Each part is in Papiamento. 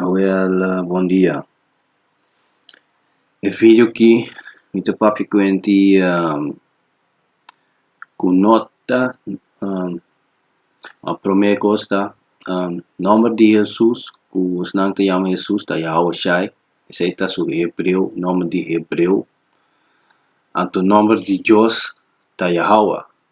Abuela bon dia e fijo ki mi ta papia ku en di ku no ta a prome kos ta nomber di Hesus ku nan ta yama Hesus ta Yahua shai esei ta su hebreo nomber di hebreo anto nomber di Dios ta Yahua.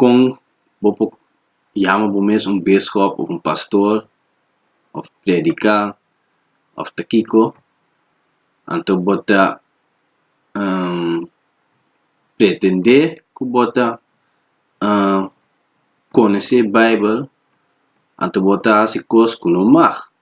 kon bo por yama bo mes un biskop of un pastor of predika of ta kiko anto bo ta pretende ku bo ta konose baibel anto bo ta hasi kos ku no mag.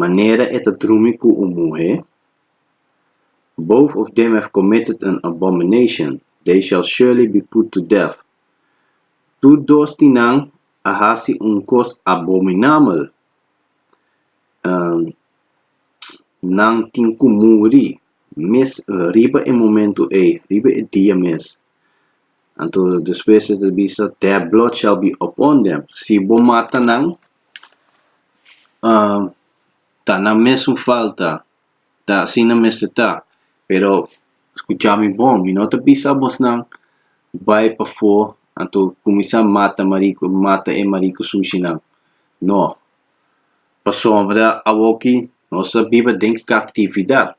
manera e ta drumi ku un muhé, both of them have committed an abomination, they shall surely be put to death, tur dos di nan a hasi un kos abominabel, nan tin ku muri, mes riba e momentu ei, riba e dia mes, Anto despues e ta bisa, Their blood shall be upon them. Si bo mata nan, ta nan mesun falta, ta asina mester ta. Pero skucha mi bon, mi no ta bisa abosnan, bai pafó anto kuminsá mata mariku, mata e mariku sushinan. No. Pasobra awoki nos ta biba den kaptividat.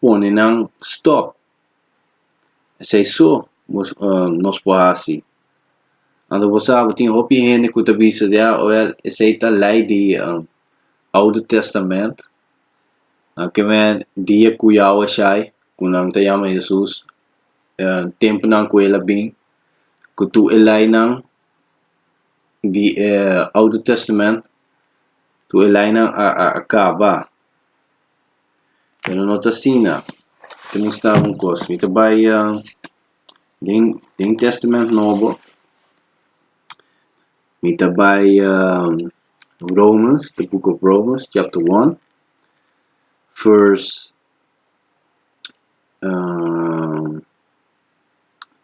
pone nan stòp. Esei so bo nos por hasi. Anto bo sa bo tin hopi hende ku ta bisa di a wèl esei ta lei di Oude Tèstamènt, nan ke mei dia ku Yahweh a shai, ku nan ta yama Hesus, tempunan ku el a bin, ku tur e leinan di e Oude Tèstamènt, tur e leinan a a kaba. pero no ta asina te mustaba un kos mi ta bai den den testament nobo mi ta bai romans the book of romans chapter one verse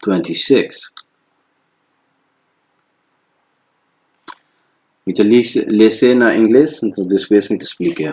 twenty six mi ta lisi lese na ingles despues mi ta splikia.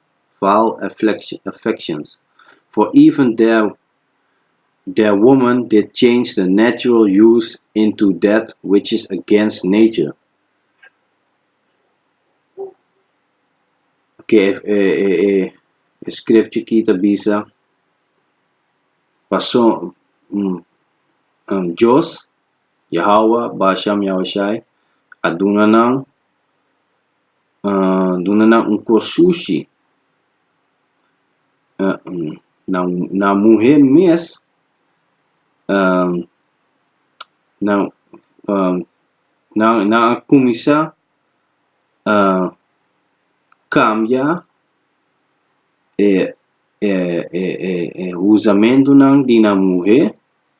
val affections for even der woman did change the natural use into that which is against nature ke e scriptie ki ta bisa pasobra dios yahowah bashan yahushai a duna nan duna nan un kos sushi nan muhé mes nan nan a kuminsá kambia e e e e e uzamentunan di nan muhé.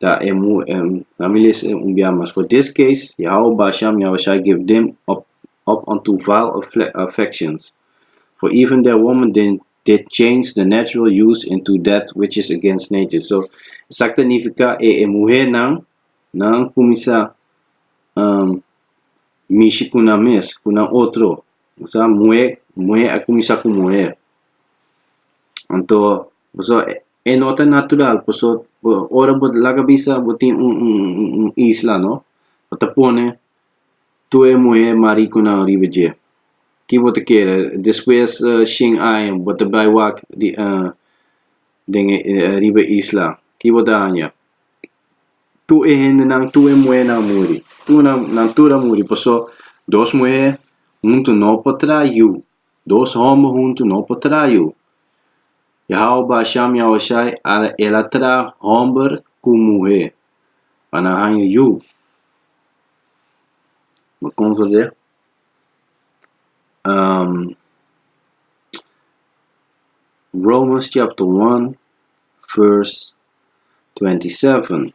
ta e mu e na mi les un bia mas for this case Yahowah ba sham Yahowah shai give dem up up unto vile affections for even their woman den did change the natural use into that which is against nature so esak ta nifiká e e muhernan nan kuminsá mishi ku nan mes ku nan otro muhé muhé a kuminsá ku muhé anto pasobra E no ta natural paso ora bo laga bisa bo tin un un un isla no bo ta pone tur e muhé marikunan riba dje ki bo ta kere despues shen aña bo ta bai wak den e riba e isla ki bo ta haña tur e hendenan tur e muhénan a muri tur nan nan tur a muri paso dos muhé huntu no por traha yu Dos homber huntu no por tra yu. Yahawah ba asha mi Ahushai, ala el a tra homber ku muhé pa nan haña yu. Bo kon fasié? Romans chapter one verse twenty seven,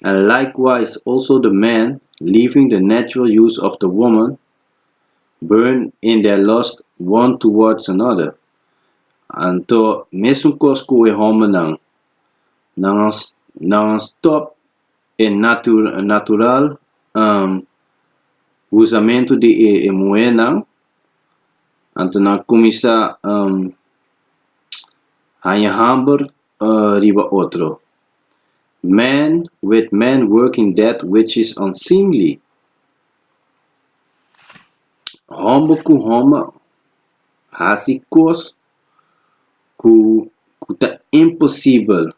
And likewise also the man, leaving the natural use of the woman, Burn in their lust one towards another. Anto, mesun kos ku e hombernan, nan nan a stòp e natu natural usamentu di e e muhernan, anto nan a kuminsá haña hamber riba otro. Man with man working that which is unseemly. Homber ku homber hasi kos ku ku ta imposibel.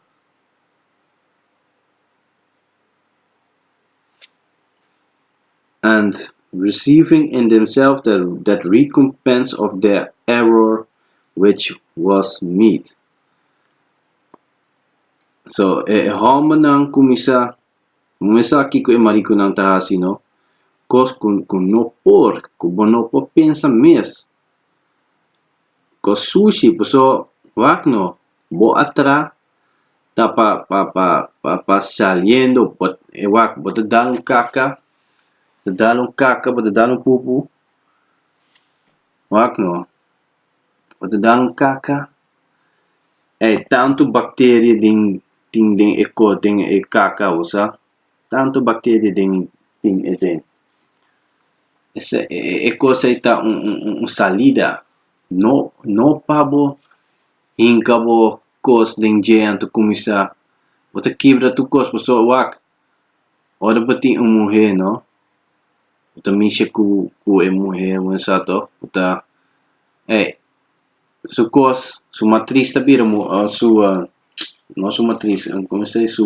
And receiving in themselves that that recompense of their error which was meet. So, e hombernan ku mi sa. Bo me sa kiko e mariconan ta haci no? Cos cu cu no por, cu bo no por pensa mes. Cos sushi, paso wak no, bo a tra ta pa pa pa pa pa saliendo bo e wak bo ta dal un kaka, bo ta dal un kaka, bo ta dal un pupu, wak no. pa ta dan kaka, e tantu bakteria den tin den e ko den e kaka bo sa, tantu bakteria den tin aden. Ese e kos ei ta un un un salida, no no pa bo hinka bo kos den dje anto kuminsá, bo ta kibra tur kos, pasobra wak Ora bo tin un muhé no bo ta mishi ku ku e muhé wensado bo ta eh su kos su matris ta bira mu su no su matris komo se dice su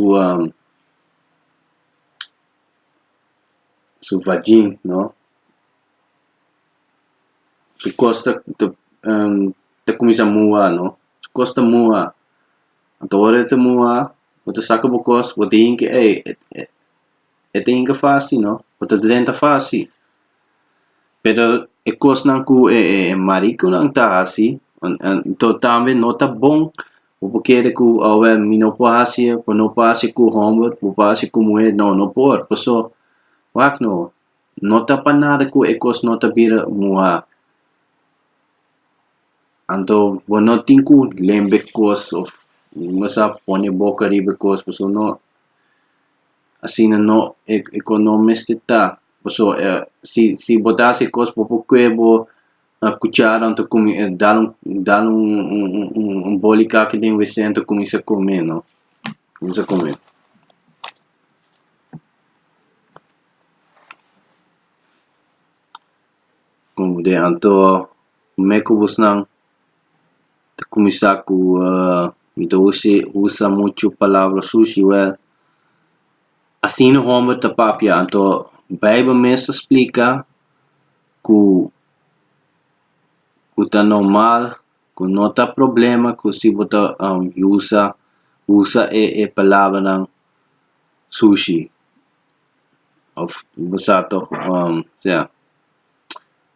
su vagin no su kos ta ta ta kuminsha mua no su kos ta mua. Anto ora e ta muha bo ta saka bo kos bo ta hinka ey e ta hinka fasi no bo ta drenta fasi pero e kosnan ku e e marikonan ta hasi anto tambe no ta bon bo por kere ku awe mi no por hasi e bo no por hasi e ku hòmber bo por hasi e ku muher no no por paso wak no no ta pa nada ku e kos no ta bira muha. Anto bo no tin ku lemba e kos of no sa pone e boka riba e kos pasobra no asina no e e kos no mester ta paso si si bo ta hasi e kos bo por kue bo kuchara anto kumi dal un dal un un un boli kaki den wc anto kuminsa kome no kuminsa kome. Konke anto. Kome ku busnan ta kuminsá ku mi ta usa muchu palabra sushi? Wèl, asina hòmber ta papia anto Beibel mes ta splika ku ku ta normal, ku no ta problema ku si bo ta usa usa e e palabranan sushi òf bo sa tòg ose.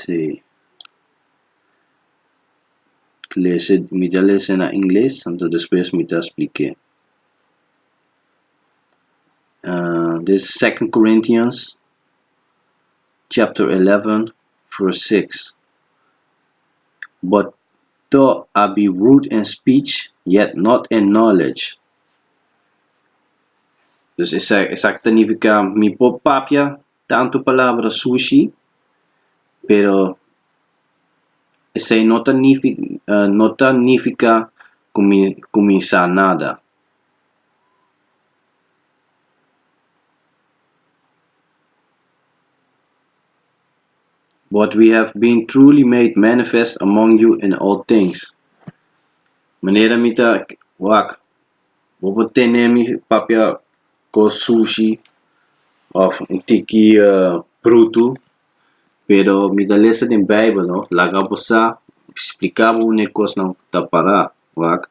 si lese mi ta lese na ingles anto despues mi ta splik'é this second Corinthians chapter 11 verse 6 But to a be rude in speech, yet not in knowledge. Dus esaki, esaki ta nifiká mi por papia tantu palabra sushi, pero esei no ta nifi ah no ta nifiká ku mi ku mi sa nada. But we have been truly made manifest among you in all things, manera mi ta wak, bo por tene mi papia cos sushi of un tiki brutu, pero mi ta lesa den bijbel no, laga bo sa, splica bo un e cosnan ta para, wak.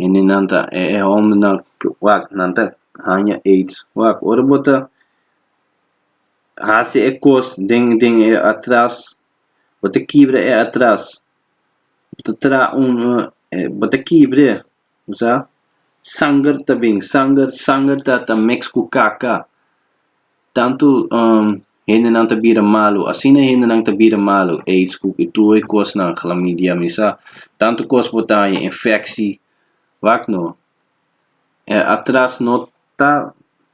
Hendenan ta e e hombernan ke wak nan ta haña aids wak. Ora bo ta hasi e kos den den e atras bo ta kibra e atras bo ta tra un bo ta kibre sa sanger ta bin sanger sanger ta ta mix ku kaka. Tantu hendenan ta bira malu, asina e hendenan ta bira malu, aids ku e tur e kosnan, klamidia, misa, tantu kos bo ta haña, infeksi, wak no. E atras no ta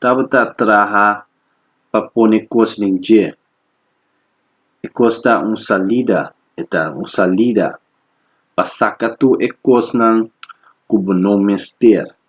tabata traha pa pone kos den dje. E kos ta un salida, e ta un salida pa saka tur e kosnan ku bo no mester.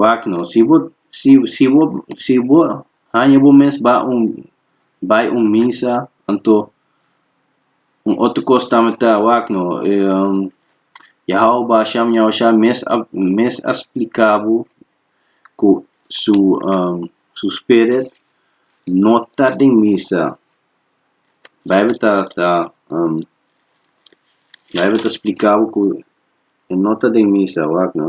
Wak no. Si bo, si, si bo, si bo haña bo mes ba un, bai un misa, anto un otro kos tambe ta, wak no. Yahau Basha Miaushá mes a, mes a splika bo ku su, su Spirit no ta den misa. Beibel ta, ta, Beibel ta splika bo ku e no ta den misa, wak no.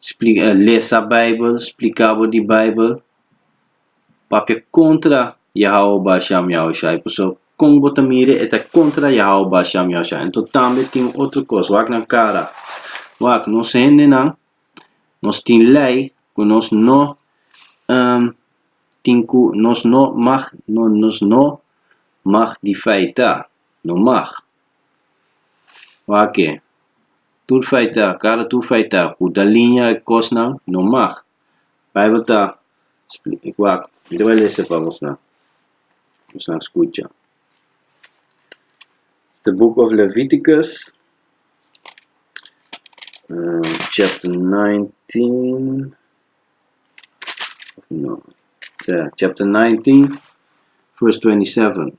Splica, lesa Bijbel, splica bo di Bijbel. Papia contra Yahaoba Sham Yahushai, pasobra con bo ta mira e ta contra Yahaoba Sham Yahushai. Enton tambe tin otro cos, wak nan cara, wak nos hendenan, nos tin ley cu nos no tin cu, nos no mag, nos no mag di feita, no mag. Wak-e, tur feita, kada tur feita ku ta liña e kosnan no mag. Beibel ta wak, mira bai lesa pa bosonan, bosonan skucha. The Book of Leviticus chapter nineteen, no, ya, chapter nineteen verse twenty seven.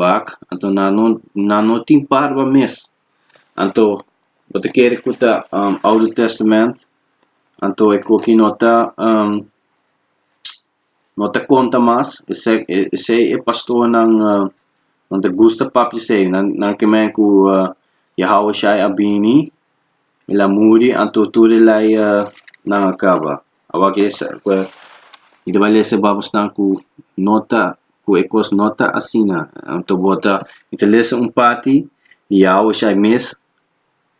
wak anto nan no nan no tin parba mes anto bo ta kere ku ta oude testament anto e koki no ta no ta konta mas esei esei e pastornan nan ta gusta papia esei nan nan ke men ku Yahawashai a bini. Mi la muri, anto tur e laya nan a kaba. Awak e mi ta bai lesa e Babosnan ku no ta ku e kos no ta asina. Anto bo ta mi ta lesa un parti di Yawe Shai mes,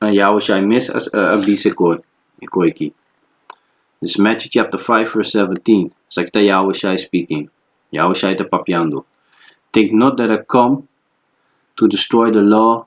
na Yawe Shai mes a a bisa e kos e koiki. Dis Matthew chapter five verse seventeen, esaki ta Yawe Shai speaking, Yawe Shai ta papiando, Take note that I come to destroy the law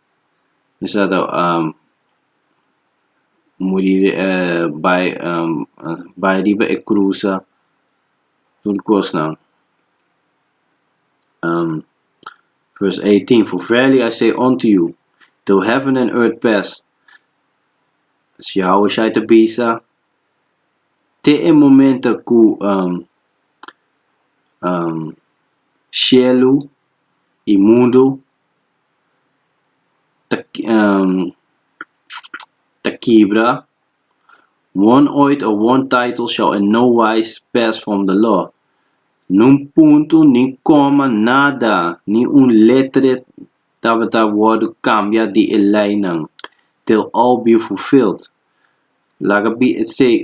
Bisa ta muri di e bai bai riba e cruza tur cosnan vers eighteen for verily I say unto you till heaven and earth pass si Yahushai ta bisa te e momento cu cielo y mundo ta ta kibra, one oath of one title shall in no wise pass from the law, num punto nin coma nada nin un letre tabata wordo cambia di e leynan till all be fulfilled, laga be e say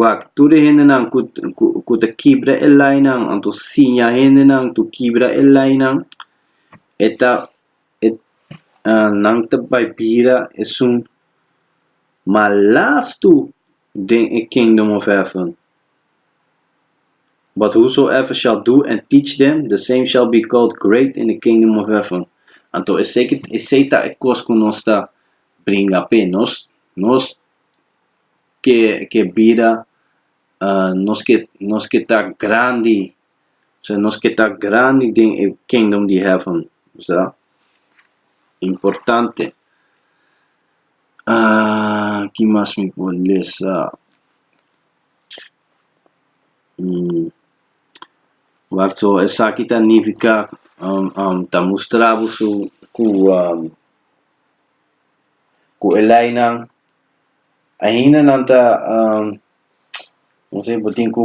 wak tur e hendenan ku ku ku ta kibra e lainan anto siña hendenan tur kibra e lainan e ta e nan ta bai bira esun malas tur den e kingdom of heaven but whosoever shall do and teach them the same shall be called great in the kingdom of heaven anto esei esei ta e kos ku nos ta bringa p'e nos nos ke ke bida nos ke nos ke ta grandi ohsea nos ke ta grandi den e kingdom di heaven ohsea importante ki mas mi por lesa so esaki ta nifica ta mustra boso ku. cu e leinan ainda nan ta como bo tin cu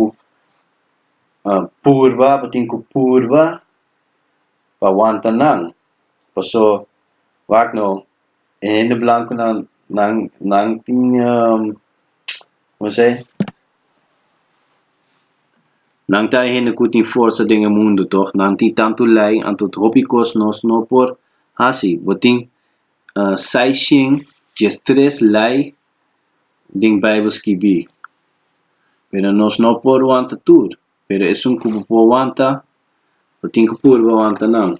purba bo tin cu purba pa wanta nan paso wak no e hende blanco nan nan nan tin como se nan ta e hende cu tin forsa den e mundo toch nan tin tanto lei anto hopi cos nos no por haci bo tin seis shin dies tres lei den Bijbel skibi, pero nos no por wanta tur, pero esun ku bo por wanta, bo tin ku purba wanta nan.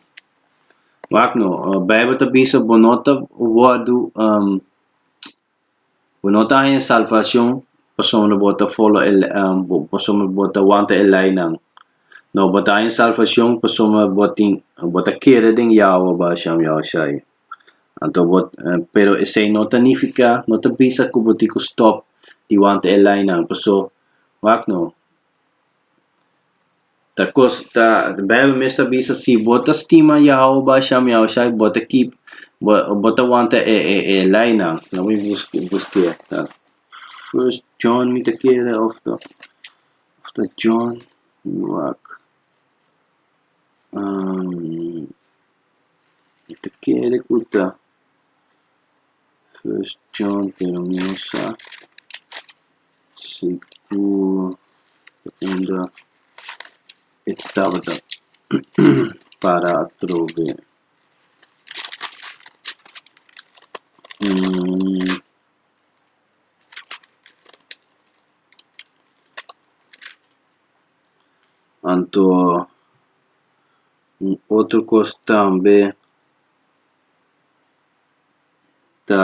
Wak no, Bijbel ta bisa bo no ta wòrdu Bo no ta haña salvacion pasobra bo ta folo e lei, pasobra bo ta wanta e leinan. No, bo ta haña salvacion pasobra bo tin, bo ta kere den Yahweh Baal Shem Yahushai. Anto bo, pero esei no ta nifiká, no ta bisa ku bo tin ku stòp di wanta e leinan. Paso, wak no, Ta cos ta ta bijbel mes ta bisa si bo ta stima Yahweh o Basham Yahushai bo ta keep bo bo ta wanta e e e leinan laami bus busqueer ta first John mi ta kere of ta of ta John mi wak mi ta kere ku ta first John pero mi no sa. K'se ku unda e tabata para atrobe un anto un otro kos tambe ta.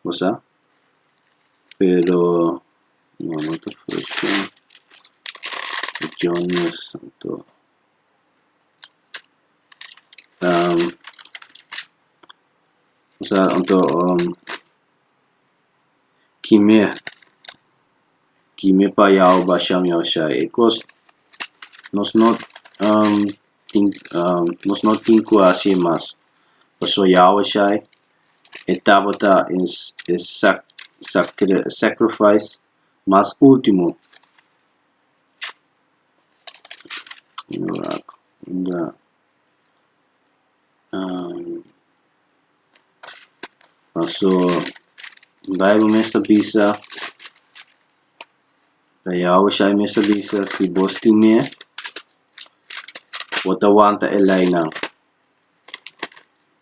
bo sa pero no no ta fursha regiones anto bosa anto kime kime payao basha me basha e kos nos no tin nos no tin ku hasi e mas paso yao shai. E tabata e sacrifice mas ultimo paso bible mes ta bisa Yahushai mes ta bisa si bos tin me bo ta wanta e lei nan.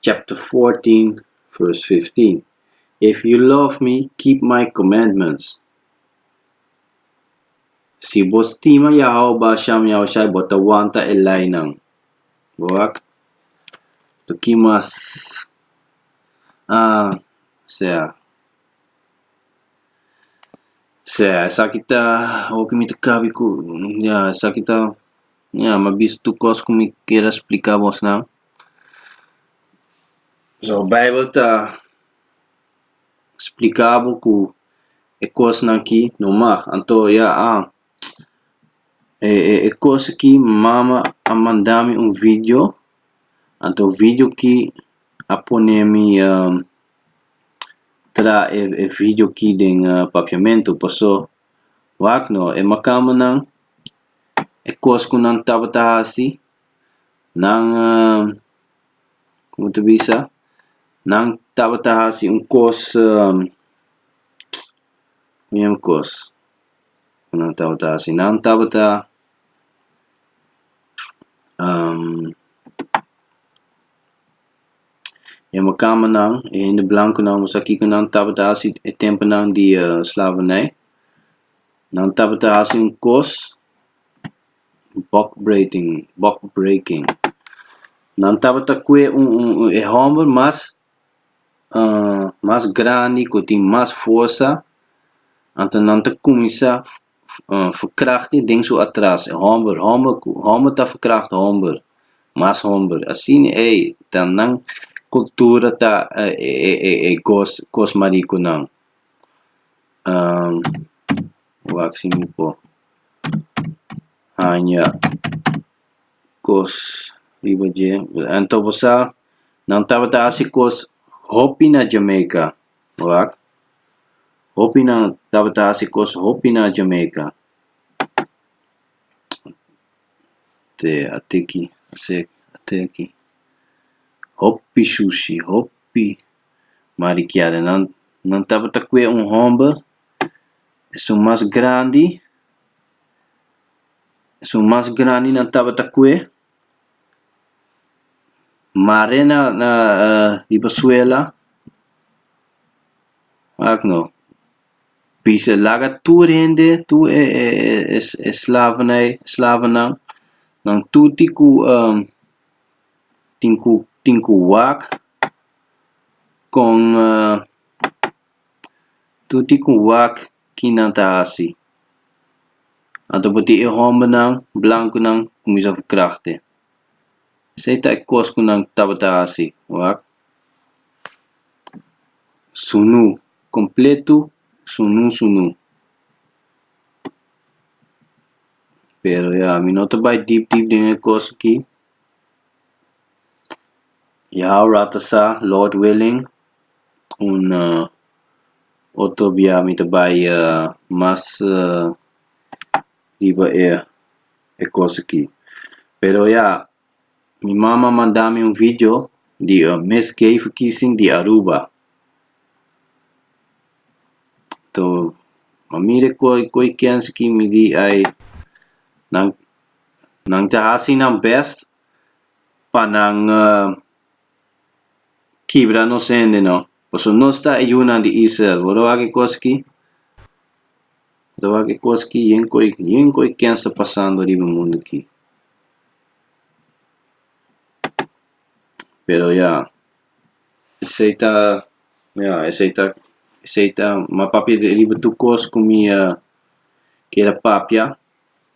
chapter 14 verse 15. If you love me, keep my commandments. Si bo stima Yahweh Basham Yahushai, bo ta wanta e leinan. Bo wak? Toki mas ah sea sea esaki ta hopi mi ta kabi ku ya esaki ta Ya m'ha bisto tur cos cu mi kier a splica bosnan. So, bijbel ta splica bo cu e cosnan aki no mag. Anto ya a e cos aki mama a manda mi un video, anto video aki a pone mi tra e video aki den papiamento, paso wak no, e macamenan e kos ku nan tabata hasi, nan como ta bisa, nan tabata hasi un kos miun kos ku nan tabata hasi, nan tabata yama kama nan, e hende blankunan, wuss a kiko nan tabata hasi e tempunan di slavernij. Nan tabata hasi un kos bòkbreking bòkbreking. Nan tabata kue un un un e hòmber mas mas grandi ku tin mas forsa, anto nan ta kuminsá verkrachti den su atras, e hòmber hòmber ku hòmber ta verkrachti hòmber, mas hòmber. Asina ei ta nan kultura ta e e e kos kos marikunan. wak si mi por haña kos riba dje. Anto bo sa, nan tabata hasi kos hopi na Jamaica, wak. Hopi nan tabata hasi kos hopi na Jamaica. Te atiki, te aki. Hopi shushi, hopi. Mar di Kiadenan nan tabata kue un homber, esun mas grandi, esun mas grandi nan tabata kue, mar'é na na riba suela, ak no, bisa laga tur hende, tur e e e e slavenai, slavennan, nan tur ti ku tin ku tin ku wak kon tu tin ku wak ki nan ta hasi anto bo tin e hombernan blankunan kuminsá verkrachtte esei ta e kos ku nan tabata hasi wak sunú kompletu sunú sunú pero ya mi no ta bai dip dip den e kos aki. Ya ora ta sa, Lord willing, un otro bia mi ta bai mas riba e e kos aki. Pero ya, mi mama a manda mi un vidio di e mes gei verkiezing di Aruba. Toh, ma mire koe koe ken skimi di ai nan Nan ta hasi nan bèst pa nan kibra nos hende, no? Pasobra nos ta e yunan di Israel. Wor awor ki koski, wor awor ki koski yen koe, yen koe ken sta pasando riba e mundu akí. Pero ya, esei ta, ya, esei ta, esei ta, m'a papia riba tur kos ku mi a kier a papia.